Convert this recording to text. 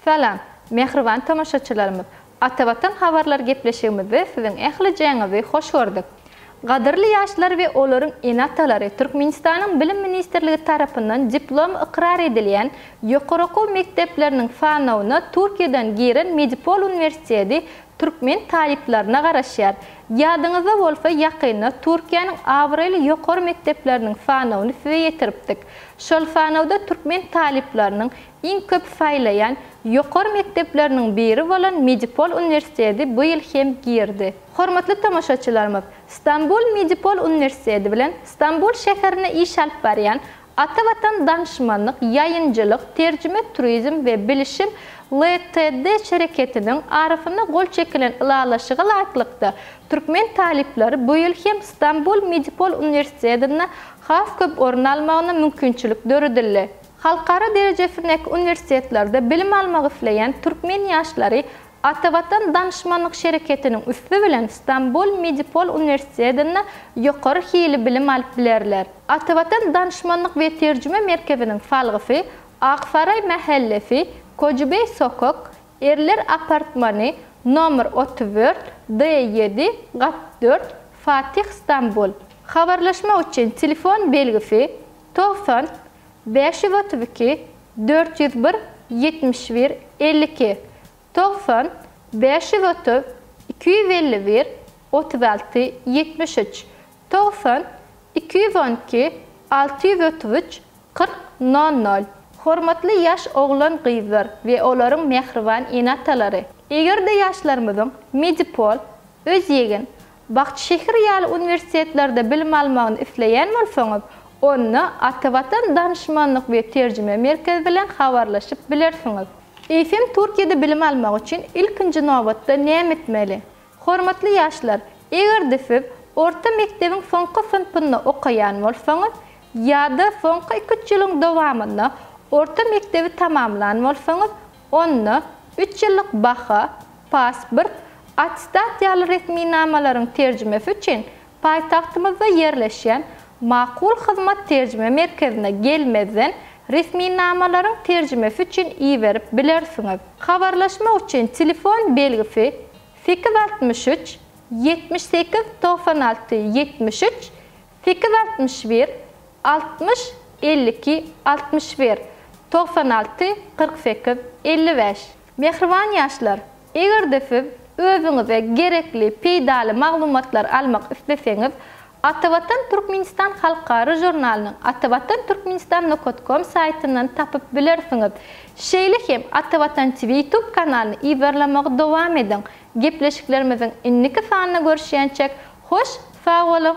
Salam, mähriban tomaşaçylarymyz! Atavatan habarlar gepleşigimizde siziň ählijäňizi hoş gördük. Gadyrly ýaşlar we olaryň ene-atalary Türkmenistanyň Bilim ministrligi tarapyndan diplomy ykrar edilýän ýokary okuw mekdepleriniň sanawyna Türkiýeden giren Medipol uniwersiteti Türkmen talyplaryna garaşýar. Ýadyňyzda bolsa ýakynda Türkiýäniň abraýly ýokary mekdepleriniň sanawyny size ýetiripdik. Şol sanawda türkmen talyplarynyň iň köp saýlaýan ýokary mekdepleriniň biri bolan Medipol uniwersitedi bu ýyl hem girdi. Hormatly tomaşaçylarymyz, Stambul Medipol uniwersitedi bilen Stambul şäherinde iş alyp barýan Ata Watan Danşmanlyk, ýaýynjylyk, terjime, turizm we bilişim LTD şereketiniň arasynda gol çekilen ylalaşyga laýyklykda, türkmen talyplary bu ýyl hem Stambul Medipol uniwersitedinde has köp orun almagyna mümkinçilik döredildi. Halkara derejesindäki uniwersitetlerde bilim almak isleýän türkmen ýaşlary Atavatan danyşmanlyk şereketiniň üsti bilen Stambul Medipol uniwersitedinde ýokary hili bilim alyp bilerler. Atavatan danyşmanlyk we terjime merkeziniň salgysy Aksaraý mähellesi, Kojubeý sokak, Erler apartmany, nomer otuz dört, D ýedi, gat dört, Fatih Stambul. Habarlaşmak üçin telefon belgisi, togsan, bäş ýüz otuz iki, dört ýüz bir, ýetmiş bir, elli iki, togsan, bäş ýüz otuz, iki ýüz elli bir, otuz alty, ýetmiş üç, togsan, iki ýüz on iki, alty ýüz otuz üç, kyrk, nol nol. Hormatly ýaş oglan-gyzlar we olaryň mähriban ene-atalary! Eger-de ýaşlarymyzyň Medipol, Özýegin, Bagtyşehir ýaly uniwersitetlerde bilim almagyny isleýän bolsaňyz, onda Atavatan Danyşmanlyk we Terjime Merkezi bilen habarlaşyp bilersiňiz. Eýsem Türkiýede bilim almak üçin ilkinji nobatda näme etmeli? Hormatly ýaşlar, eger-de siz orta mekdebiň soňky synpynda okaýan bolsaňyz ýa-da soňky iki-üç ýylyň dowamynda orta mekdebi tamamlan bolsaňyz, Onda üç ýyllyk baha, pasport, attestat ýaly resminamalaryň terjimesi üçin paýtagtymyzda ýerleşýän Makul hyzmat terjime merkezine gelmezden resminamalaryň terjimesi üçin iberip bilersiňiz. Habarlaşmak üçin telefon belgisi sekiz altmyş üç ýetmiş sekiz togsan alty ýetmiş üç Sekiz altmyş bir altmyş elli iki altmyş bir togsan alty kyrk sekiz elli bäş. Mähriban ýaşlar, eger-de siz özüňize gerekli peýdaly maglumatlary almak isleseňiz, Atavatan Türkmenistan halkara žurnalynyň atavatanturkmenistan nokat kom saýtyndan tapyp bilersiňiz. Şeýle hem Atavatan TV YouTube kanalyny yzarlamagy dowam ediň. Gepleşiklerimiziň indiki sanyna görüşýänçek, Hoş sag boluň.